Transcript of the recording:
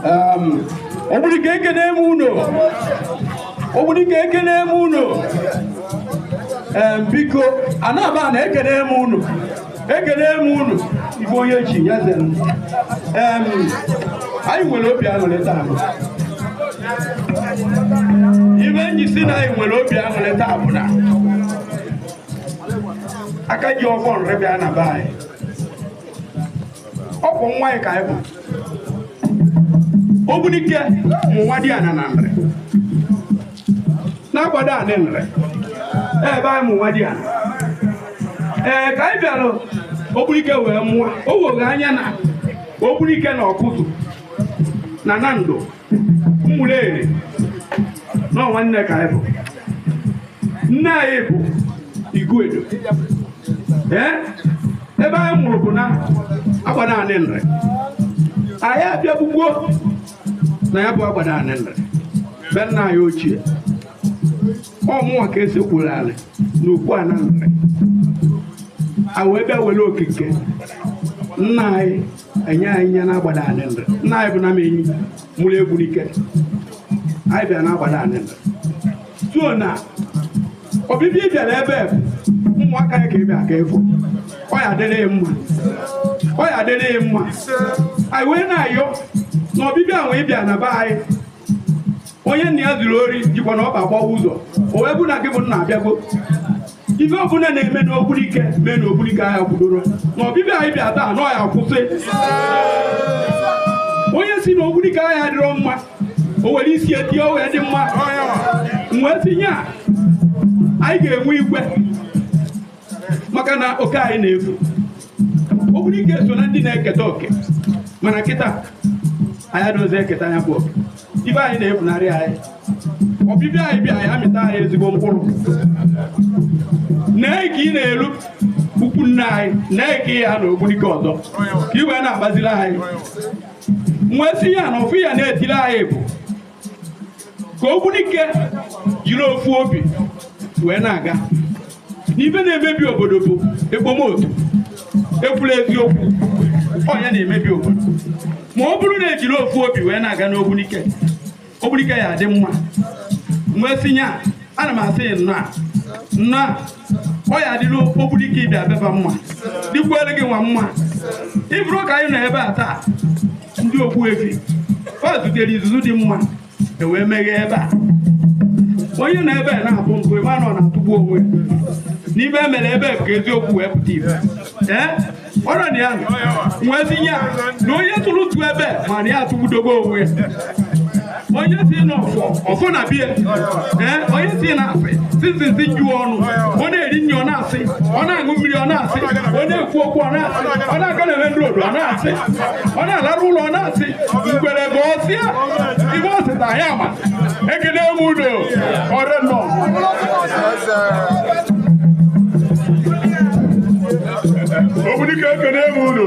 Um, Ogbunike ekene m unu Ogbunike ekene m unu um, biko anaba na ekene m unu ekene m unu ife onye chi ya ze m Um, anyị nwere obi aṅụrị taa ife m ji sị na anyị nwere obi aṅụrị taa bụ na aka ji ọfọ Nri bịa na be anyị ọ bụ nwa ya ka anyị bụ ogbunike bụ nwadiana na Nri na Agbadani Nri ebe anyị bụ nwadiana ee ka anyị bịara ogbunike wee mụọ o woghe anya na ogbunike na Awkuzu na Nando Umuleri na nwanne ka anyị bụ nne anyị bụ Iguedo ee ebe anyị mụrụ bụ na Agbadani Nri anyị abịabugo na ya bụ Agbadani Nri be nna anyị ochie ọ mụnwa ka e sekpuru alị na ukwu ana Nri a wee bịa were oke nke nna anyị enye anyị ya na Agbadani Nri nna anyị bụ Nnamenyi mụrụ Ogbunike anyị bịara na Agbadani Nri so na ọbịbịa ị bịara ebe bụ ụmụaka ya ka ị bịa ka ịfụ ọ ya adịrị ya mma ọ ya adịrị ya mma anyị wee na-ayọ na ọbịbịa ahụ ị bịa na be anyị onye nna ya ziri ori jikwanụ ọkpa agbawa ụzọ o wee bụ na gị bụ nna abịago ife ọbụla na-eme n'ogbunike mee na ogbunike aya akwụdorọ na ọbịbịa anyị bịa taa na ọ ya akwụsị onye sị na ogbunike aya adịrọ mma o were isi ya tie o wee dị mma m wee sị nya anyị ga-enwe igwe maka na oke anyị na-efu Ogbunike so na ndị na-eketa oke mana kịta anyị adịrọzi eketa nya bụ oke ife anyị na-efunarị anyị ọbịbịa ị bịa ya amịta anyị ezigbo mkpụrụ nee ka ị na-elu ikwu nne anyị nee ka ya na ogbunike ọzọ ka i wee na-agbaziri anyị m wee sị ya na ọfọ ị ya na-etiri anyị bụ ka Ogbunike jiri ofu obi wee na-aga na ife na-emebi obodo bụ ekpomotu ekwurọ eziokwu ọ nya na-emebi obodo ma ọ bụrụ na ejiri ofu obi wee na-aga n'ogbunike ogbunike ya adị mma m wee sị nya ana m asị nnọọ a nnọọ a ọ ya adịrị ogbunike ịbịa beba mma dịkwuere gị nwa mma ị fụrụ ka anyị nọ ebe a taa ndị Ogbuefi fa zutere izuzu dị mma e wee meghee ebe a onye na ebe a na-abụ ntụ ebe a nọ na-atụgbu onwe n'ive e mere ebe ka eziokwu wee pụta ive ee ọrọ na ya nwezinye na onye tụrụ ntụ ebe ma na ya atụgbudogo onwe onye si n'ọfọ ọfọ na bie ee onye si na asị sizizi ju ọnụ ọ na-eri nri ọ na-asị ọ na-aṅụ mmiri ọ na-asị ọ na-ekwu okwu ọ na-asị ọ na-aga na ebe odo ọ na-asị ọ na-alarụ ụla ọ na-asị ngwere bụ ọ sịa ive ọ sịta ya ma ekene m unu ọra nọ Ogbunike ekene m unu